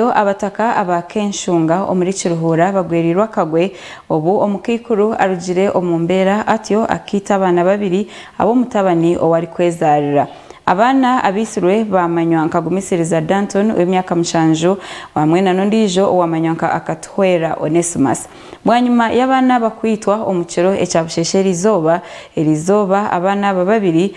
Reero abataka aba Kenshunga omuri Kiruhura bagwereirwe akagwe obu omukaikuru arugire omu mbeera atyo akaita abaana babiri ab'omutabani ou arikwezaarira. Abaana abaitirwe baamanywa nka Gumisiriza Danton ow'emyaka mushanju hamwe na n'ondiijo owaamanywa nka Akatuhwera Onesmus. Bwanyima y'abaana aba kwitwa omu kiro ekya bushesheera eizooba, erizooba abaana aba babiri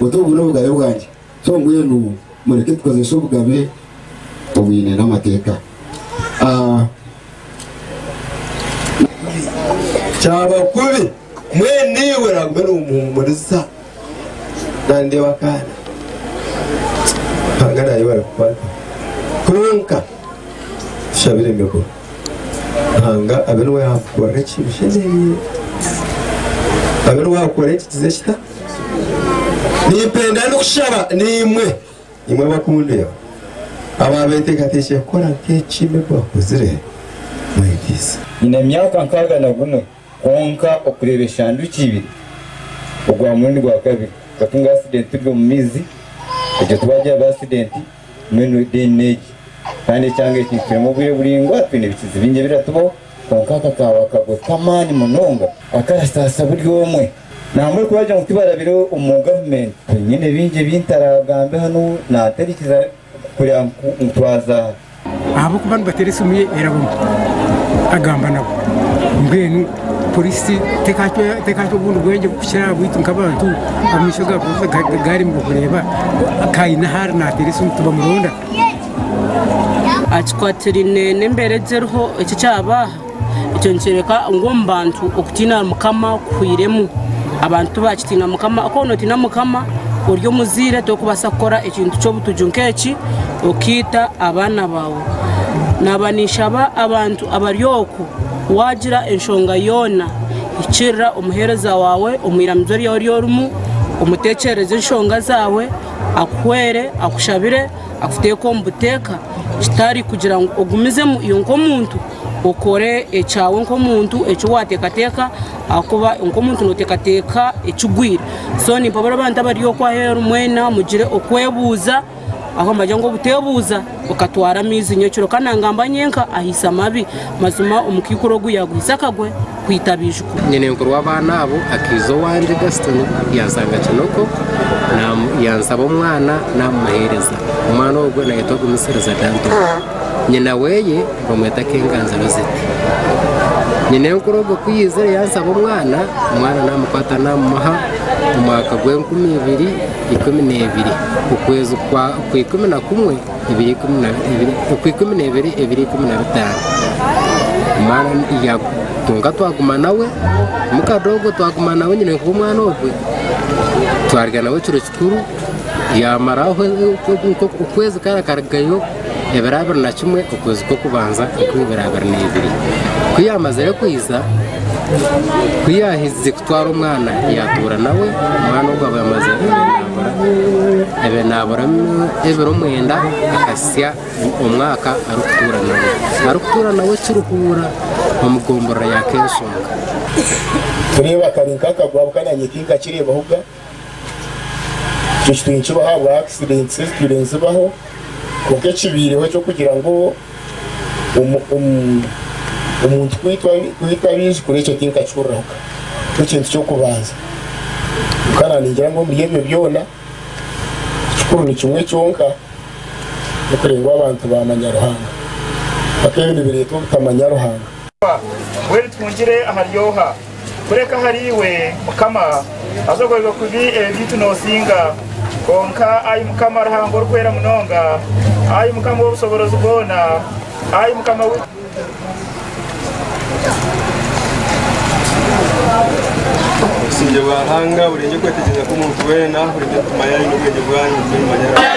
Oti ogu n'obugabe bwangye, so mbwenu mureke tukozese obugabe obwine n'amateeka. Kyaba kubi, mwene iwe oragume nomuhumuriza. Nandeba akaana Ruhanga nayebare kukwata kwonka tushabire emigura Ruhanga abe niwe yakukorera eki oshemerire, abe niwe akukore eki kize kita. Nimpenda n'okushaba naimwe, imwe abakundeeba, abaabeeteekateekire kukora nk'eki Nebo akozire, mwegyeise. Nyine emyaka nkaaga na gumwe, kwonka okureeba eshanduki ibiri ogwa murundi gwa kabiri, but nga accident turi omu maizi, egyo twagira ba accident, Mbwenu ediini n'egi. Kandi ekyanga eki nikikiremu obwire buraingwa, twine ebikizi bingi ebiratubaho, kwonka aka kaaba akagwe k'amaani munonga akarataasa buri omwe. Nambwenu ku baagira ngu tibarabire omu gavumenti, nyine bingi ebi ntaraagambe hanu naataraikiza kureba ngu twaza aha. Ahabw'okuba nibateera esimu ye eraba mbi, agamba nabo. Mbwenu Polisi tekahata obundi bwengye kukira aha bwaitu nk'abantu? Amaisho ga polisi gaaremire kureeba ku haine ou ariyo naateera esimu tibamuronda? Kikwatiraine n'embeera egi eriho eki ekyabaaha, ekyo nikyoreka ngu omu bantu okutiina Mukama kuhwiremu. Abantu tibakitiina Mukama, ku waaba notiina Mukama ori omuzaire torikubaasa kukora ekintu ky'obutugi nk'eki okaita abaana baawe. Naaba ninshaba abantu abari oku. Waagira enshonga yoona ekirira omuheereza waawe omu iramizo ryaawe ori orimu, omuteekyerereze enshonga zaawe, akuhwere, akushabire, akuteeke omu buteeka, kitari kugira ngu ogumizemu iwe nk'omuntu okore ekyawe nk'omuntu eki waateekateeka ahakuba nk'omuntu nooteekateeka ekigwire. So nimpabura abantu abari okwo aheeru mwena mugire okwebuuza. Aho mbagira ngu obuteebuuza okatwara amaizi nyowe kiro ka naangamba nyenka ahaise amabi. Mazima omukaikuru ogu yaaguhitse akagwe kwita abaijukuru. Nyinenkuru w'abaana abo akaija owangye, Gaston, yanshanga Kinoko, yansaba omwana naamumuheereza. Omwana ogwo naayetwa Gumisiriza Danton. Nyina weye bamweta Kenganzi Rosette. Nyinenkuru ogwo ku yaizire yansaba omwana, omwana naamukwata naamumuha omwaka gw'enkumi ibiri. ikumi n'ebiri okwezi kwa ikumi na kumwe ebiri ikumi na ebiri okwa ikumi n'ebiri ebiri ikumi na bitaano omwana yagu kwonka twaguma nawe mukadoogo twaguma nawe nyine nkuba omwana ogwe twarya nawe ekiro kikuru yamaraho okwezi kara akarugayo Ebiro abiri na kimwe okwezi kw'okubanza enkumi ibiri abiri na ibiri. Ku yaamazire kwija, ku yaahikize kutwara omwana, yaatuura nawe, omwana ogwo aba yamaze enaabura, aba enaabura ebiro mwenda, akahitsya omwaka arikutuura nawe. Arikutuura nawe kiruhuura omu gomborora ya Keeshonga. Tureeba kari nk'akagwabuka naanye tinkakireebaho ga. Ekyo kitumi nikibaho ahabwa akisidenti ezitwire nizibaho. Kwonka ekibaireho eky'okugira ngu omuntu kwitwa abaijukuru ekyo tinkakihuriraho ka. Nikyo kintu ky'okubanza. Kwonka naaningira ngu omuri ebyo byona, ekikuru ni kimwe kyonka, n'okureeba ngu abantu baamanya Ruhanga. Kwonka ebyo nibireeta obutamanya Ruhanga. Mbwenu tungire ahari oha? Kureka ahari iwe, Mukama, haza ogoyerwe kubi ebi byaitu noosinga. Kwonka ai Mukama Ruhanga Orikwera Munonga, ai Mukama ow'Obushoborozi bwona, ai Mukama waitu Obusingye bwa Ruhanga burenge okwetegyereza kw'omuntu weena, burenge emitima yanyu n'obwengye bwanyu bitume nimumanya Ruhanga.